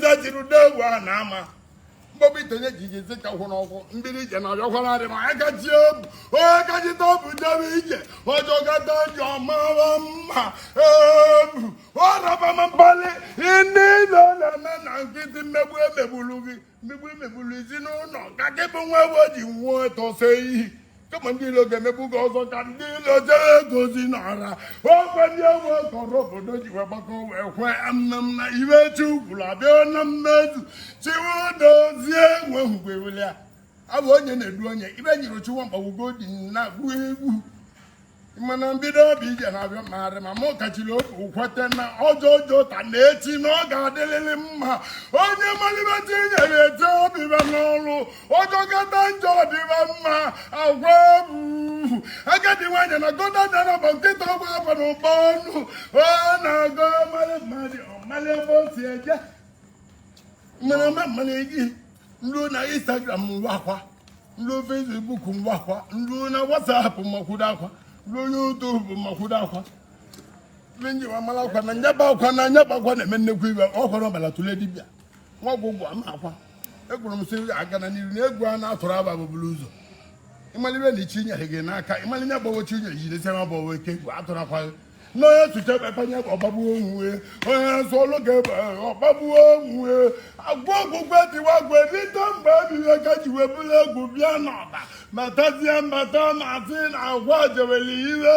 zaziri n'egwu a na ama mgbọbụ itenye ji ije ka hụ n'ọkwụ mbido ije na ọjọkwara adị ma akachi obu onye kachita obu jebe ije ọ jọkata njọ ọ mawa mma ebu ọrọbama mkpali ndị ilo na-eme na nkịtị mmegbu emegbulu gị mmegbu emegbulu ezinụlọ ka gị bụ nwa ewu ji nwụọ tọsa iyi kama ndị ilo ga-emegbu gị ọzọ ka ndị ilo jere gozi n'ọra ọkwa ndị ewe kọrọ obodo ji wee gbakọ wee kwe amnam na ife chi kwuru abịa na mmezu chiwe dozie nwehụgwe wele ya abụ onye na-edu onye ije nyere chiwa mkpagbugo dị na-agụ egwu mana mbido obi ije na-abịa mmadụ ma mụ kachiri obi kwete na ọ jọọ njọ taa na echi na ọ ga-adịlịlị mma onye malibeta inyere ete ọ bịaba n'ọrụ ọ jọkata njọ ọ dịba mma agwa ebu agadi nwanyị na gọda dara bụ nkịta ọgba agwa na ụgbọ ọnụ ọ na-agọ mmadụ mmadụ ọ mali ebe o si eje mmanụ mmanụ gị ruo na instagram ruo akwa ndị Facebook mgbakwa ndị nọ na WhatsApp makwudo akwa ndị YouTube makwudo akwa ndị nji wa mara akwa na nyaba akwa na nyaba akwa na-eme nnekwu ife ọ kwa n'ọbala tụle dibịa nwa ọgwụgwụ ama akwa ekwuru m sị aga na n'iru na egwu a na-atụrụ aba bụ buru ụzọ ị malibe na chi nyere gị n'aka ịmalire gbawochi unye jidesịa ma gbawo ike egwu atụrọ akwa n'onye tụcha kpekpanye ọ gbagbuo onwe onye nsọ ọlụ ga-ebe ọ gbagbuo onwe agwa ọgwụgwọ dịwa gwe rite mgbe ebighị ka ji wee bụrụ egwu bịa n'ọba matazie mbata mazi na agwa ji were iwe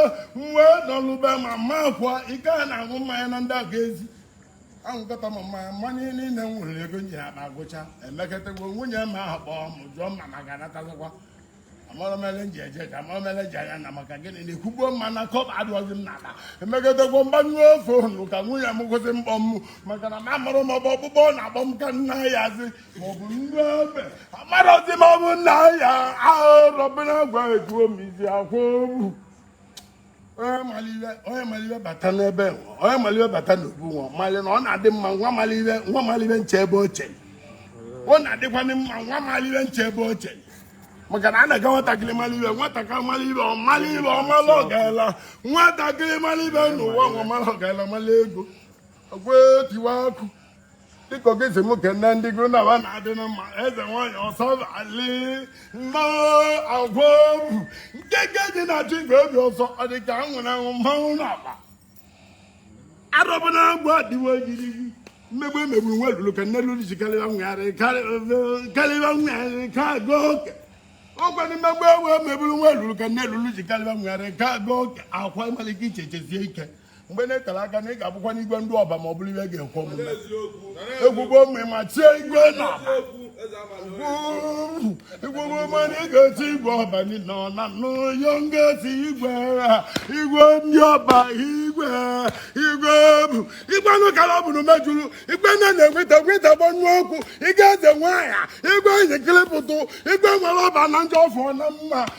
wee nọlụbe ma mma akwa ike a na-aṅụ mmanya na ndị agwa ezi ahụkọta ma mmanya niile nwere ego nye ya na agwụcha emekọtago nwunye m akpọọ m jụọ m ma m ga-anatazikwa amarọ m ele m ji eje ka amarọ m ele m ji ana na maka gịnị na-ekwugbo mana kọbọ adụrọzi m n'akpa emeketegwo m gbanyụọ phone ka nwunye m kwụsị mkpọ m maka na amarọ m ọ bụ ọkpụkpọ na-akpọ m ka nna ya zi maọbụ ndị ebe amarọzi m ọ bụ nna ya arọbịnagụ ejuo m isi akwụ onye mali ife bata n'ebe onye mali ife bata n'obu nwa mali na ọ na-adị mma nwa mali ife je ebe ọ je ọ na-adịkwanị mma nwa mali ife je ebe ọ je maka na a na-aga nwatakịrị mara ife nwatakịrị mara ife ọ mara ife ọ mara ọgaala nwatakịrị mara ife n'ụwa nwa mara ọgaala mara ego dịka ogeze m kene ndị gị na fa na-adị na mma eze nwanyị ọsọbali mma agwa obu nke dị na chi nke obi ọsọ ọ dị ka anwụ na anwụ mmanwụ na akpa arọbịnagụ adịwo gidi mmegbu emegburu nwa lulu ka nne lulu ji karịba nwegharị ka aga oke ọkwa ndị mmegbu ewe emegburu nwa lulu ka nne lulu ji karịba nwegharị ka aga oke akwa malike iche chezie ike mgbe na-etere aka na ị ga-abụkwa n'igwe ndị ọba ma ọ bụrụ ife ga-ekwe omume egwugbo mgbe ma tie igwe na igwugbo ma na ị ga-eti igwe ọba niile ọ na n'oyo m ga-eti igwe ha igwe ndị ọba igwe igwe bụ igwe anụ kara ọ bụrụ mejuru igwe nne na-enweta nweta gbanyụ ọkụ ị ga-eze nwaanyị igwe njikiri pụtụ igwe nwere ọba na ndị ọfọ na mma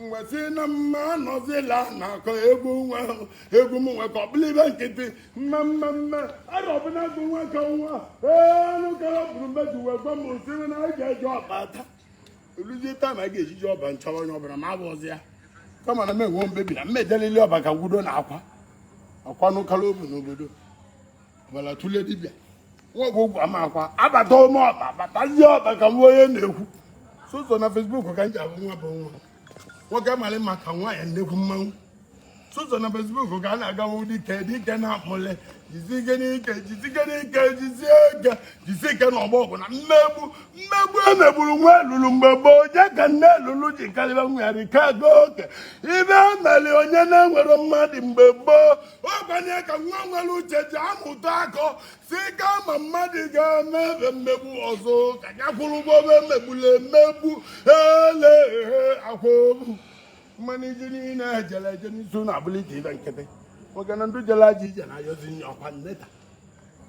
nwesị na mma anọzila na-akọ egwu nwa egwu m nwe ka ọ bụla ife nkịtị mma mma mma arọ ọbụla bụ nwa ka nwa ee anụ kara bụrụ mmeji wee gwa m sị na anyị ga-eji ọba ata oluzie taa ma a ga-ejiji ọba nchọrọ onye ọbụla ma abụzi ya kama na m enwe mbebi na mmedelili ọba ka gwudo na akwa akwa nụkara obu n'obodo gbara tụle dibịa nwoke ụgwọ amakwa abata ụmụ ọba batazie ọba ka nwa onye na-ekwu soso na fesbuk ka m ji abụ nwa bụ nwa nwoke mara maka nwaanyị nnekwu mmanwụ soso na fesbuk ka a na-agawa dike dike na-amụle jizike n'ike jizike n'ike jizie ike jizie ike na ọgbọ ọgụ na mmegbu emegburu nwa elulu mgbe gboo onye ka nne elulu ji karịba nwa ya rike aga oke ife emeli onye na-enwerọ mmadụ mgbe gboo ọgbanye ka nwa nwere uche ji amụta akọ sị kama mmadụ ga-eme ebe mmegbu ọzọ ka ya kwụrụ ụgwọ ebe emegbula emegbu ele akwa obu mmanụ ije niile ejele eje n'isi na-abụlite ife nkịtị maka na ndị jela ji ije na-ayọzi nye ọkwa nneta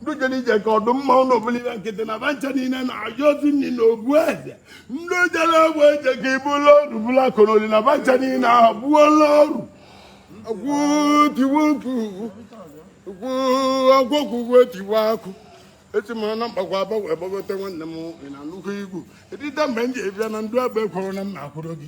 ndị jere ije ka ọ dị mma ụlọ obulire nkịtị na ba ncha niile na-ayọzi nri na ogbu eze ndị jere ogbu eje ka ibụla ọrụ bụla koroli na ba ncha niile ahụ bụola ọrụ agwọkwugwu etiwe akụ eti mara na mkpagwa agbanwe gbagote nwanne m na nnukwu igwu edide mgbe m ji ebịa na ndụ agba ekworo na m na-akwụrụ gị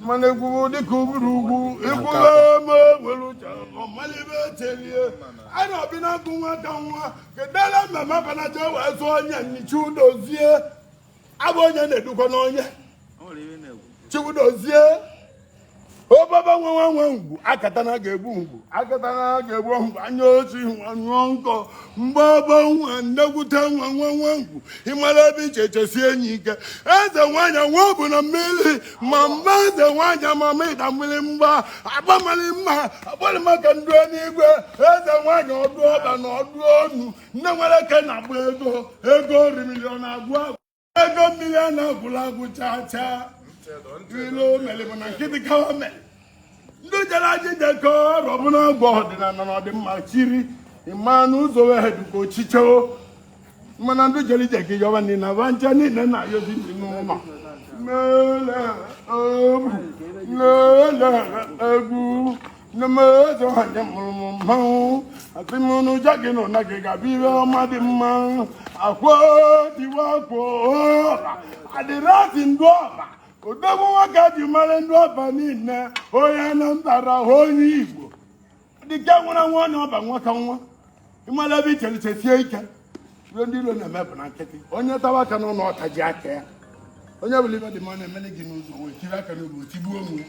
mana egwuwo dịka oburu ugwu ekwula ma nwere uche ọmalife chelie a na-abị na agụ nwa ka nwa kedala mmemme abanaja wee zụọ onye nyi chiudozie abụ onye na-edukwa n'onye chiudozie obaba nwa nwa nwa ngwu akatana ga-egbu ngwu akatana ga-egbu ngwu anya ochi nwa nyụọ nkọ mgbe ọbọ nwa nnekwute nwa nwa nwa ngwu ịmara ebe iche chesie enyi ike eze nwanyị nwa bụ na mmiri ma mma eze nwanyị amama ịda mmiri mgba agbamali mma agbali maka ndị n'igwe eze nwanyị ọdụ ọba na ọdụ ọnụ nne nwere eke na-agba ego ego orimili ọ na-agwụ ego mmiri a na-agwụla agwụ chaa chaa ilu mere bụ na nkịtị kawa mere ndị jere aja ije ka ọrụ ọbụla agwa ọdịnala na ọdịmma chiri ịma na ụzọ wee dịka ochiche mana ndị jere ije ka yọwa niile na ba ncha niile na-ayọzi ndị n'ụlọ lele egwu lele egwu nne m eze nwanyị mụrụ m mmanwụ asị m na uje gị na ụna gị ga-abụ ihe ọma dị mma akwo diwa akwo ọba adịrasị ndị ọba odogwu nwoke ji mara ndị ọba niile onye anambara onye igbo dike nwụrụ nwa onye ọba nwata nwa ịmara ebe i chere i chesie ike ihe ndị ilo na-eme bụ na nkịtị onye tawa aka n'ọnụ ọ tajie aka ya onye hụrụ ihe dị mma na-emeli gị n'ụzọ wee tiri aka n'obi tigbuo onwe ya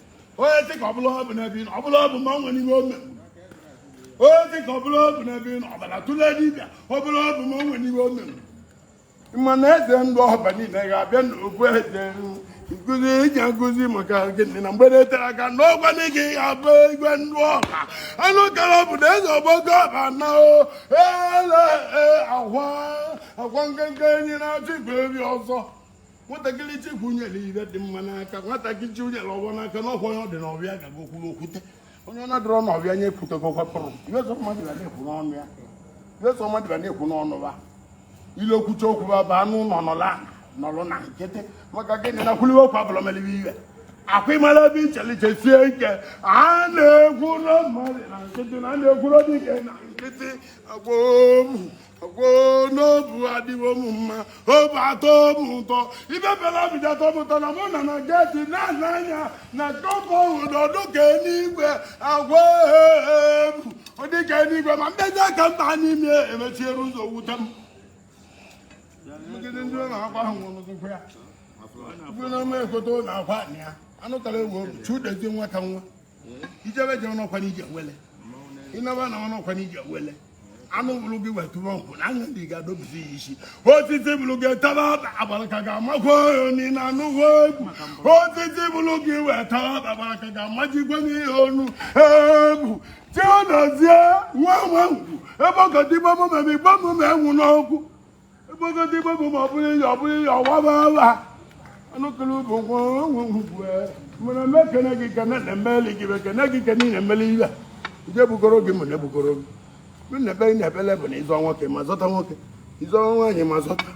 onye dị ka ọbụla ọ bụ n'ebe ị nọ ọbụla ọ bụ ma ọ nwere ihe o mere onye dị ka ọbụla ọ bụ n'ebe ị nọ ọbara tụle dibịa ọbụla ọ bụ ma ọ nwere ihe o mere ma na eze ndị ọba niile ga-abịa n'okwu eze nkụzi eji akụzi maka gịnị na mgbede tere aka n'ọgwa dị gị ga-abụ igwe ndị ọba anụ kara bụ na eze ọgbọgo ọba na o ele ahwa akwa nkenke enyi na-achụ igwe enyi ọsọ nwatakịrị chikwu nyere ihe dị mma n'aka nwatakịrị chi nyere ọgbọ n'aka na ọkwa onye ọ dị n'obi ya gaga okwuru okwute onye ọ na-adịrọ n'obi ya nye ekwutego kwapụrụ ihe sọ mmadụ ga na-ekwu n'ọnụ ya ihe sọ mmadụ ga na-ekwu n'ọnụ ma ile kwucha okwu ọ baa n'ọnụ nọlụ na nkịtị maka gịnị na kwuliwe okwu abụrọ melibe ihe akwa ịmara ebe i chele i chesie ike a na-ekwuro mmadụ na nkịtị na a na-ekwuro dike na nkịtị agbomu n'obu adịwo m mma obu atọ m ụtọ ihe melụ obi ji atọ m ụtọ na mụ na na geti na-ana anya na kọpọ ụdọdụ ka eluigwe agwa ebu ụdị ka eluigwe ma mbezi aka mba n'ime emechiere ụzọ wute m megide ndị ụlọ akwa ahụ nwụrụzikwa ya bụ na ama ekote ụlọ akwa ya anụ kara ewu obi chiedozie nwata nwa i jebe ije ọnọkwa na ije awele ị naba na ọnọkwa na ije awele anụ hụrụ gị wetụrụ ọgwụ na anya ndị ga-adọbisi ya isi osisi hụrụ gị taba agbara ka ga-amakwa oni na anụghị egwu osisi hụrụ gị wetara agbara ka ga-amajikwa n'ihe onu egwu chiedozie nwa nwa ngwu ebe ọ ka dịgba mụmemi gbamume enwu n'ọgwụ Igbogodi gbogbo ma ọ bụrụ ihe ọ bụrụ ihe ọwaba ala anụkụrụ bụ nwa onwe ngwugwe mụrụ eme kene gị kene na emeli gị be kene gị kene na emeli ibe ije bugoro gị mụ na ebugoro gị mụ na ebe ị na-ebele bụ na ịzọ nwoke ma zọta nwoke ịzọ nwaanyị ma zọta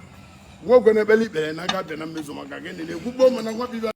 nwoke na-ebele ikpere na aga bịa na mmezu maka gịnị na ekwugbo m na nwa bibe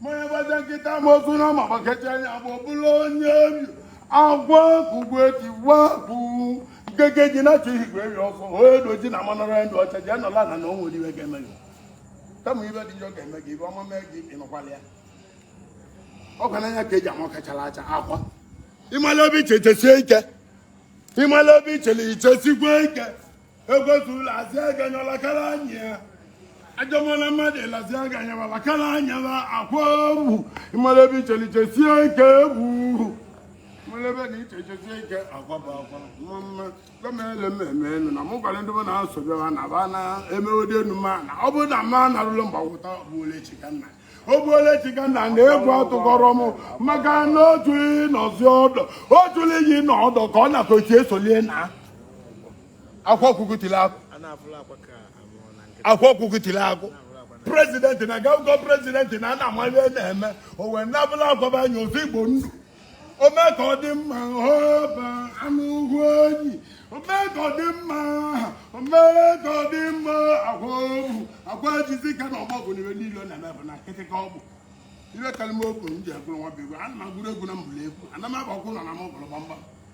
mmanya gbaja nkịta ma ozu na ma gbaketa anya bụ ọbụla onye obi agwa kugwe tiwa bụ nkenke enyi na-achụ igwe enyi ọsọ onye doji na manara ndị ọcha ji anọla na na o nwerọ ihe ga-eme gị kama ihe dị njọ ga-eme gị ihe ọma mee gị ịnụkwala ya ọkwa n'anya ka eji ama ọka chara acha akwa ịmala ebe i chele i chesie ike ịmala ebe i chele i chesikwa ike egwezula azị aga nyọla kara anyị ya ajọmọla mmadụ elazi aga nyawala kara anyala akwa egwu ịmara ebe icheliche sie ike egwu ịmara ebe icheche sie ike akwa bụ akwa nwa mma gọmele mmemme enu na mụ gwara ndị mụ na-asọbịa ha na ba na-emeghodi enu ma na ọ bụrụ na mma narụlụ mgbagwụta ogbuole chikanna ogbuole chikanna na egwu atụkọrọ m maka na otu ịnọzi ọdọ otu iyi na ọdọ ka ọ na-atọ etu esolie na akwa ọkụkụ tiri akụ akwa ọkụkụ tiri akụ president na gaugo president na ana amali na-eme o wee nabụla akwaba anya ozi igbo ndụ ome ka ọ dị mma ọba anụ ugwu enyi ome ka ọ dị mma ome ka ọ dị mma akwa obu akwa ejizi ka na ọgbọ bụ n'ife niile ọ na-eme bụ na nkịtị ka ọ bụ iwe kalịma okwu m ji agụrụ nwa bụ egwu ana m agụrụ egwu na mbụlụ egwu ana m agbakwu na na m ọgụrụ gbamgbam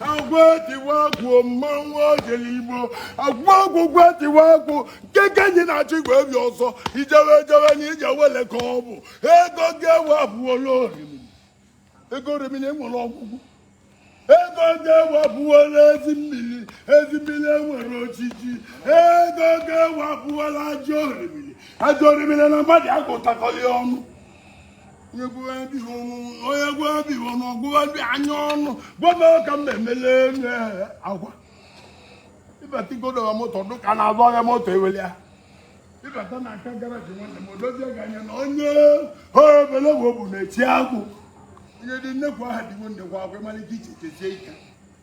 akwa tiwa akụ mmanwụ ojele igbo akwa ọkụkụ etiwa akụ nke ka anyị na-achọ igwe obi ọzọ ijewe ejewe na ije wele ka ọ bụ ego ga-ewe abụola orimiri ego orimiri enwere ọgwụgwụ ego ga-ewe abụola ezi mmiri ezi mmiri enwere ojiji ego ga-ewe abụola ajọ orimiri ajọ orimiri na mmadụ agụtakọghị ọnụ onye gwụwa bighị ọnụ onye gwụwa bighị ọnụ ọgwụwa bi anya ọnụ gwa m ka m na-emele enu ehe akwa ịbata igodowa moto dụ ka na-azụ ọhịa moto eweli ya ịbata na aka garaji nwanne m odozie gị anya na onye obele bụ bụ na-eti akụ onye dị nnekwu aha dịwo nnekwu agwụ ịmalite iche chezie ike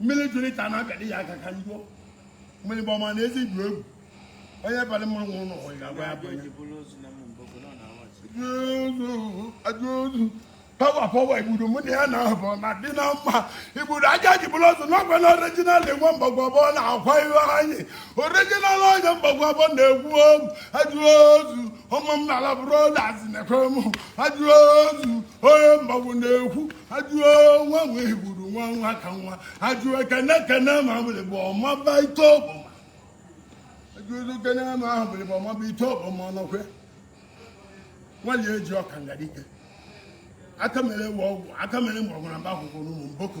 mmiri jụrụ ka a na-abịadị ya aka ka njọ mmiri bụ ọma na ezi jụ egwu onye bara mmanwụ ụlọ ọ ga-agwa ya bụ onye ajụozu pawa pawa igbudu mụ na ya na-abụ na dị na mma igbudu aja ji bụrụ ọzọ n'ọgwa na original onye mgbagwa bọ na akwa iwe anyị original onye mgbagwa bọ na-egwu ozu ajụozu ụmụ m na-ala brothers na-ekwe m ajụozu onye mgbagbu na-ekwu ajụọ nwa nwe igbudu nwa nwa ka nwa ajụọ kene kene ma bụrụ bụ ọma ba ite ọbụma ajụọ kene ma ahụ bụrụ bụ ọma ba ite ọbụma ọnọkwe nwanyị eji ọkanga dike aka mere ewu ọgwụ aka mere mgbọrọgwụ na mba akwụkwọ n'ụmụ mboko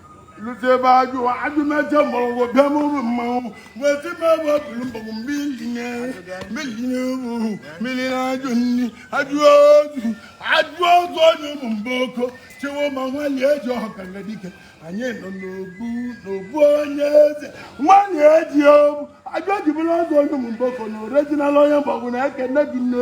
lụta ebe ajụ ajụmeje mgbọrọgwụ bịa n'ụrụ mmanwụ wee ti m ebe ọ bụrụ mgbọgwụ mmiri nye mmiri nye ụmụ mmiri na ajụ nri ajụ ozu ajụ ozu onye ụmụ mboko chewo ma nwanyị eji ọkanga dike anyị nọ n'obu n'obu onye eze nwanyị eji obu ajụ eji bulu ọzọ onye ụmụ mboko na original onye mgbọgwụ na ekene gị nne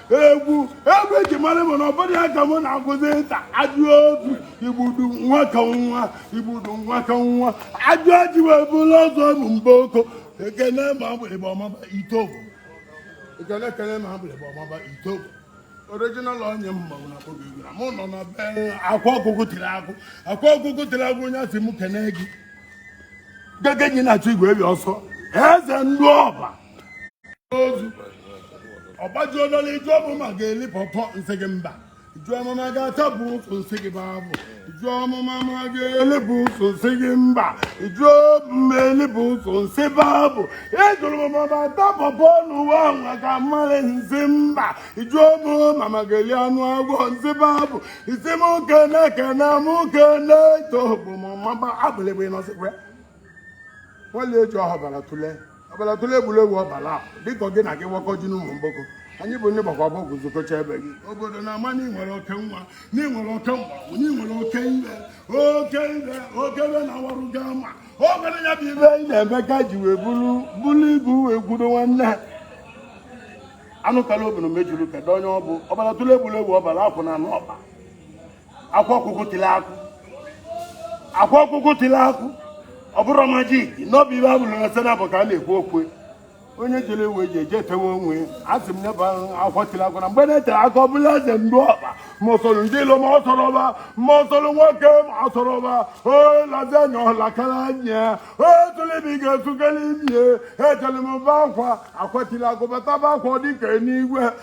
egwu egwu eji mara m na ọ bụrụ ya ka mụ na-agụzi taa ajụ obi igbudu nwa ka nwa igbudu nwa ka nwa ajụ ajụ wee bụrụ ọzọ bụ mba oko ekene ma mgbịrịgba ọmaba itobo ekene ekene ma mgbịrịgba ọmaba itobo original onye mmanwụ na akpọgo egwu na mụ nọ na be akwa ọkụkụ tiri akụ akwa ọkụkụ tiri akụ onye asị m kene gị gege ji na-achụ igwe ebi ọsọ eze ndị ọba ozu ọgbajuo n'ọla ị jụọ m ma m ga-eli pọpọ m sị gị mba ị jụọ m ma m ga-atabu ụsụ m sị gị babu ị jụọ m ma m ga-elibu ụsụ m sị gị mba ị jụọ m ma m elibu ụsụ m sị babu ị jụrụ m ma m ata pọpọ n'ụwa nwa ka mmalị m sị mba ị jụọ m ma m ga-eli anụ agwọ m sị babu ị sị m kene kene m kene to bụ m mama abụlịbụ ịnọsịkwa nwale eji ọhọbara tụlee ọbara tụrụ egwuregwu ọbara dịka gị na gị wakọ ji n'ụmụ mgboko anyị bụ ndị gbakwa bọọgwụ zụkọcha ebe gị obodo na-ama na ịnwere oke nwa na ịnwere oke mgbagwụ na ịnwere oke ibe oke ibe oke ibe na-awarụ gị ama o nwere ya bụ ibe anyị na-eme ka ji wee bụrụ bụrụ ibu wee gwudo nwanne ha anụtala obodo mejuru kedu onye ọ bụ ọbara tụrụ egwuregwu ọbara akwụ na anụ ọba akwa ọkụkụ tili akụ akwa ọkụkụ tili akụ ọ bụrụ majik n'obi ibe abụrụ na sena bụ ka a na-ekwu okwu onye jere ewu eji eje etewe onwe a sị m nyeba akwa tili akụ na mgbe na-etere aka ọ bụla eze ndị ọba ma ọ sọrọ ndị ilo ma ọ sọrọ ọba ma ọ sọrọ nwoke ma ọ sọrọ ọba olazi anya ọlakara anya otụlibi ga-esukere ibie ejere m be akwa akwa tili akụ bata be akwa ọ dịka eluigwe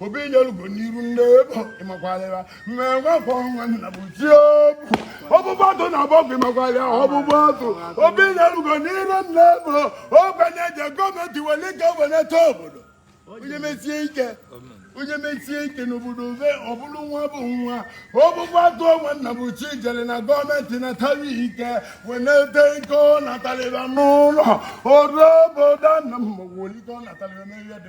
obi nyelugo n'iru ndị igbo ị makwalịra mme nwafọ nwa nna bụ chi obu ọbụbụ atụ na bọkụ ị makwalịa ọbụbụ atụ obi nyelugo n'iru ndị igbo ogbenye je gọọmenti were ike weleta obodo onye mesie ike onye mesie ike n'obodo ove ọ bụrụ nwa bụ nwa ọbụbụ atụ onwe nna bụ chi jere na gọọmenti natara ike weleta ike ọ natalịra n'ụlọ obodo nna m ma welite ọ natalịra n'ebe dị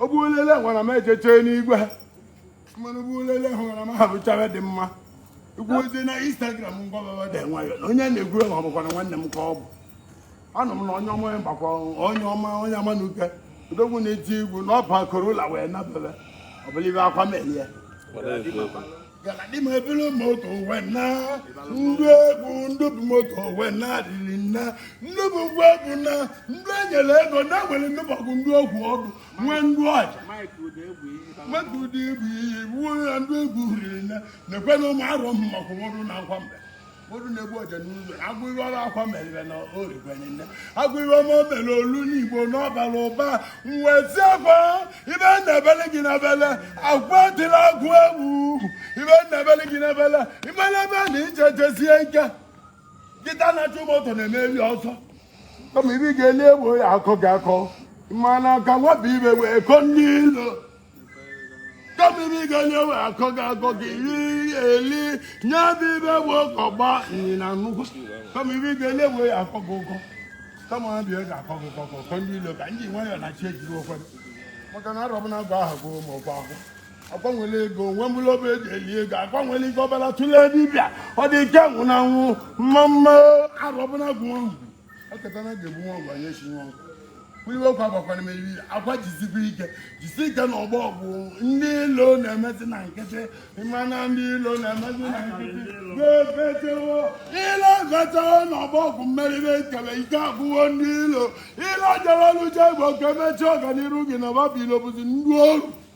ọ bụ olele nwara m ejechee n'igwe ha mmanụ bụ olele hụra m ha bụchawa dị mma ikwu ozi na instagram ngwababa dị nwayọ na onye na-egwu egwu ọ bụkwa na nwanne m ka ọ bụ anọ m na onye ọma onye gbakwa onye ọma onye ama na uke odogwu na-eti egwu na ọba corolla wee nabebe ọ bụlụ be akwa melie galadi m ebulu moto wee na ndị egwu ndị bụ moto wee na adịrị nna ndị bụ ngwa egwu na ndị enyere ego na nwere ndị mọgụ ndị ogwu ọdụ nwee ndị ọja mmadụ ụdị egwu iyi wuo ya ndị egwu riri na nekwe na ụmụ arọ mmakụ nwụrụ na akwa mbe mmadụ na-egbu ọja n'ụzọ agụ iwe ọrụ akwa merire na origwenile agụ iwe ọma o mere olu n'igbo n'ọbara ụba mwezi akwa ibe na-ebele gị na bele akwa dịla agụ egwu ibe na-ebele gị na bele imele ebe na ije jisie ike nkịta na-achụ moto na-emeri ọzọ kama ibe ga-eli egbo ya akọ gị akọ mana ka nwabụ ibe wee kọ ndị ilo kama ibe ị ga-eli wee akọ gị akọ gị iri eli nye bụ ibe bụ ụkọ gba ịnyịnya nnukwu kama ibe ị ga-eli wee akọ gị ụkọ kama ha bịa ga akọ gị ụkọ ka ụkọ ndị ilo ka ndị nwayọ na chi ejiri okwe maka na arọbụ na-agba aha gị ma ọkwa akwụ agbanwele ego nwe mụlụ obe eji eli ego agbanwele ego ọbara tụlee dibịa ọ dị ike nwụ na nwụ mma mma Arọbịnagụ ahụ akatana ga-ebu nwa ọgwa ya esi nwa ọgwa iwe ọkwa gbakwara meriri akwa jisikwa ike jisi ike n'ọgbọ ọgụ ndị ilo na-emezi na nkịtị mana ndị ilo na-emezi na nkịtị gobetewo ilo gotewo n'ọgbọ ọgụ mmeriri ekele ike agwụwo ndị ilo ilo jere ọlụje bụ oke mechie ọganiru gị na babilo bụzi ndị oru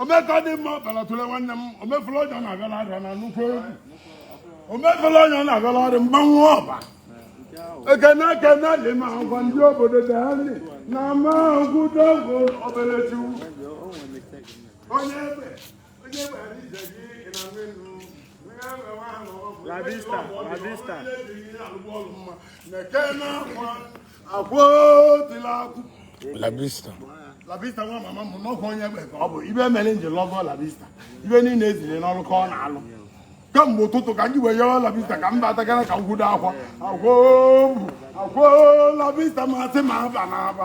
omeka dị mma ọbara tụle nwanne m omefula onye ọ na-abịala arịa na nnukwu egwu omefula onye ọ na-abịala ọrịa mgbanwe ọba ekene ekene dị ma agwa ndị obodo dị anyị na ama agwụ dogo obere chukwu onye egbe onye egbe anyị je gị ị na nwe nnu La vista, la vista. Ekene akwa labista labista nwa mama m n'ọkụ onye egbe ka ọ bụ ibe mere m ji lọgọ labista ibe niile eziri n'ọrụ ka ọ na-alụ kamgbe ụtụtụ ka ndị wee yawa labista ka mba atagara ka ngwudo akwa akwa labista masị ma aba na aba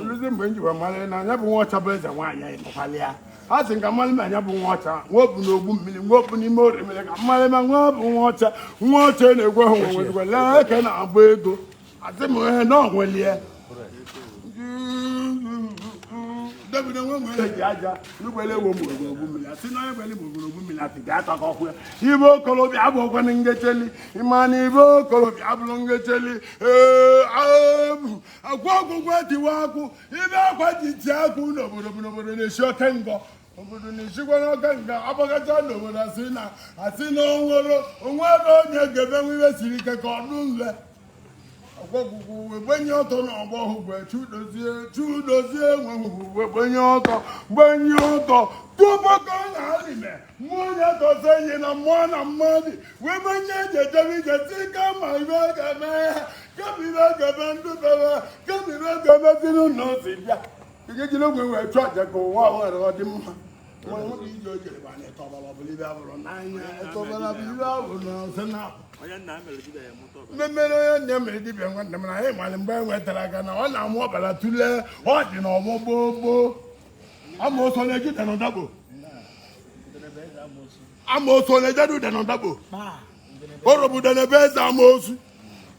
nrụzi mgbe m jiwa mara na nya bụ nwa ọcha bụ eze nwaanyị ị nụkwala ya a sị ka m malụ ma nya bụ nwa ọcha nwa bu n'ogbu mmiri nwa bu n'ime orimiri ka m malụ ma nya bụ nwa ọcha nwa ọcha na-egwe ha nwe nwezigwa lee eke na-agbọ ego asị m ihe na onwelie David enwe nwere eji aja n'ụgbọelu ewu mgbọrọgwụ mmiri asị na onye gbeli mgbọrọgwụ mmiri asị ga-ata ka ọkwụ ya ibe okorobịa abụ ọkwanụ ngecheli ịma na ibe okorobịa abụrụ ngecheli ee abụ akwa ọkụkọ tiwa akụ ibe akwa ji tie akụ n'obodo bụ n'obodo na-esi oke ngọ obodo na-esikwa n'ọka nke agbagacha n'obodo asị na asị na onwere onwere onye ga-emenwu ihe siri ike ka ọ dụ nle ọgwọgwụgwụ wee gbenye ọtọ na ọgbọ hụ gwe chudozie chudozie enweghị wee gbenye ọtọ gbenye ọtọ tupu ka ọ na-alịme mmụọ onye tọzi enyi na mmụọ na mmadụ wee gbenye eji ejebe ije si kama ibe ọ ga-eme ya kama ibe ọ ga-eme ndụ bebe kama ibe ọ ga-emeziri ụlọ ozi bịa ejejila ogwe wee chụọ aja ka ụwa ahụ ghara ọ dị mma Nwa nwoke ije o jere bụ anyị tọbara ọbụla ibe abụrụ n'anya tọbara ọbụla ibe abụrụ na ọzọ na mmemmere onye nne mere dibịa nwanne m na anyị mara mgbe e nwetara aka na ọ na-amụ ọbara tụlee ọ dị n'ọgbọ gboo gboo amaosu na-eji ụda na ụdagbo amaosu na-ejedu ụda na ụdagbo orobuda na ebe eze amaosu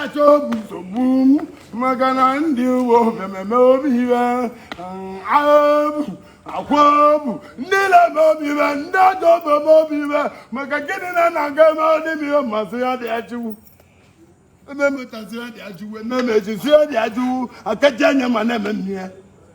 achọbụ nsogbu maka na ndị uwe omememe obi iwe abụ akwa bụ ndị na-eme obi iwe ndị ajọ omume obi iwe maka gịnị na na-aga eme ọdịbịa masị ya dị ya chukwu ememetazie dị ajụwe memejizie dị ajụwu akaji anya ma na-eme nne ya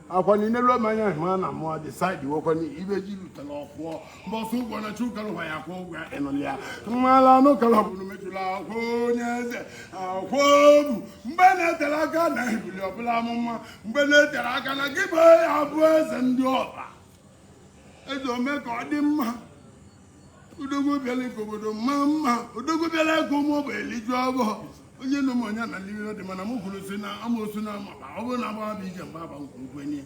akwa niile ruo ma anya ma na mụọ dị saịdị wekwa ibe ji lutela ọ kwụọ mbọsị ụgwọ na chukara ụwa ya kwụọ ụgwọ ya ịnụlị ya mmala anụ kara ọbụrụ mejụla akwa onye eze akwa obu mgbe na-etere aka na ebili ọ bụla amụma mgbe na-etere aka na gị bụ ya bụ eze ndị ọba eze ome ka ọ dị mma odogwu bịara ka obodo maa mma odogwu bịara ka ụmụ ogbe eliju ọbọ onye nụ m onye na n'ihe dị mana m kwuru si na amaosu na amaba ọ bụrụ na agbawa bụ ije mgba agba nke ukwenye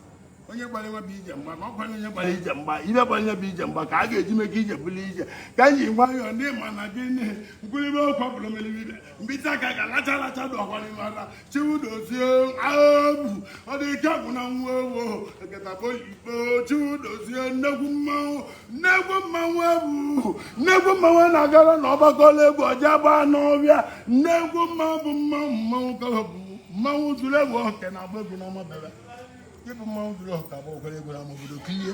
onye gbara nwa bụ ije mgba ma ọ kwanye onye gbara ije mgba ibe gbara onye bụ ije mgba ka a ga-eji meke ije bụrụ ije ka anyị ji nwayọọ ndị ma na gị nne nkwulibe okwu abụrụ melibe m bite aka ga-alacha alacha dị ọkwa n'ime ala chiwu dozie abu ọ dị ike agwụ na nwa ewo eketabo ikpo chiwu dozie nnekwu mmanwụ nnekwu mmanwụ ebu nnekwu mmanwụ na-agara na ọgbakọla egwu ọja gbaa n'ọbịa nnekwu mmanwụ bụ mmanwụ mmanwụ ka ọ bụ mmanwụ zuru egwu oke na-agba egwu na amabebe ịbụ mmanwụ zuru oke bụ okwere egwu n'ama obodo kilie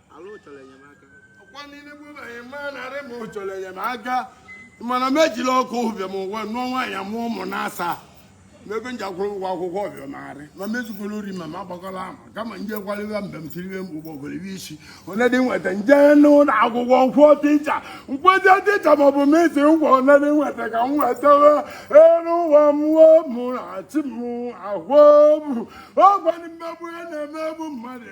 ọkwa niile bụ na anyị maa narị ma ọ chọrọ enyemaka mana m ejila ọkụ bịa m ụwa nụọ nwaanyị mụọ ụmụ na asaa n'ebe m ji akwụrụ ụgwọ akwụkwọ ọbịa marị ma m ezukwala ori ma m agbakwala ama kama nje kwalịwa mgbe m tiriwe m ụgbọ gwere iwe isi onye dị nweta nje n'ụlọ akwụkwọ nkwụọ tịcha nkwụọ tịcha ma ọ bụ m isi ngwa onye dị nweta ka m wetawa elu ụwa mmụọ mụ na chi m ahụ m ọgwa mmegbu ya na-emegbu mmadụ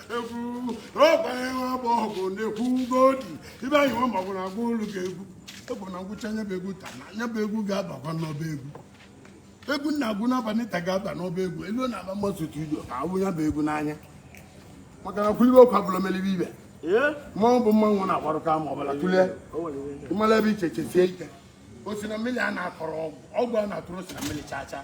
egwu ọgwara ịwa bụ ọgụ na-ekwu ugodi ibe anyị nwa magwụ na agwa olu ga-egwu egwu na ngwụcha anya bụ egwu taa na anya bụ egwu ga-abakwa n'ọba egwu egwu na-agwụ n'abalị taa ga-aba n'ọba egwu elu na aba mmasị studio ka agwụ ya bụ egwu n'anya maka na kwulibe okwu abụla melibe ibe mmanwụ bụ mmanwụ na-agbarụ ama ọbụla tụlee ịmala ebe iche chesie ike o si na mmiri a na-akọrọ ọgwụ ọgwụ a na-atụrụ si na mmiri chaa chaa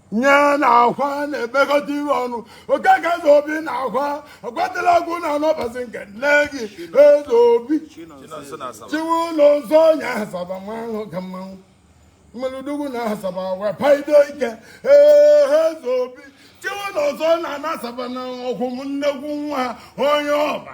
nye na akwa na-emekọta ihe ọnụ okeke eze obi na akwa akwatala ọgwụ na anọbazi nke nne gị eze obi chukwunọnsọ onye asaba mmanwụ ka mmanwụ mmeludugwu na asaba wee paido ike ee eze obi chukwunọnsọ na ana asaba na ọkwụ m nnekwu nwa onye ọba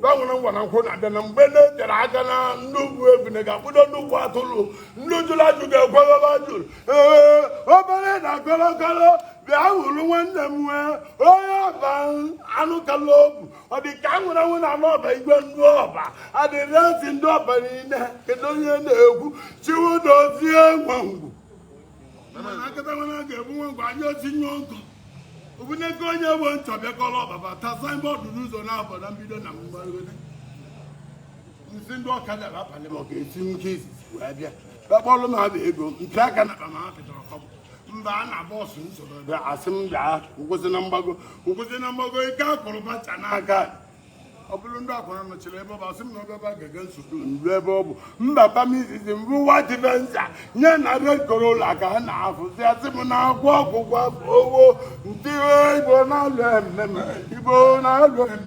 gbanwere ngwa na nkwụ na-abịa na mgbe na-eterọ aka na ndị ogbu ebune ga-akpụdo ndị ogbu atụlụ ndị jụrụ ajụ ga-ekweghebe ajụrụ ee obere na kolokolo bịa hụrụ nwanne m nwee onye ọba anụ kala obu ọ dị ka nwere nwụ na anụ ọba igwe ndị ọba adịrị ezi ndị ọba niile kedu onye na-ekwu chukwudozie nwangwu mana akatawana ga-ebu nwe ngwa anyị otinye nkụ obuneke onye bụ nchọ bịakọrọ ọba bata signboard n'ụzọ na-abọ na mbido na mgbarịgode nsị ndị ọkada abalị ma ọ ga-esi nke izizi wee bịa kpakpọrọ m abụ ego mpe aka na akpa ma ha pịtara kọbụ mba a na bus nsoro bịa asị m bịa nkwụsị na mgbago nkwụsị na mgbago ike akụrụ bacha n'aka ọ bụrụ ndị akwara nọchiri ebe ọ bụ asị m na ọbịaba ga-ege nsogbu nru ebe ọ bụ mbaba m izizi mbụ nwa dị venza nye na red corolla ka ha na-afụzi asị m na-agwọ ọgwụgwọ afọ owo ndị igbo na-alụ ememe igbo na-alụ ememe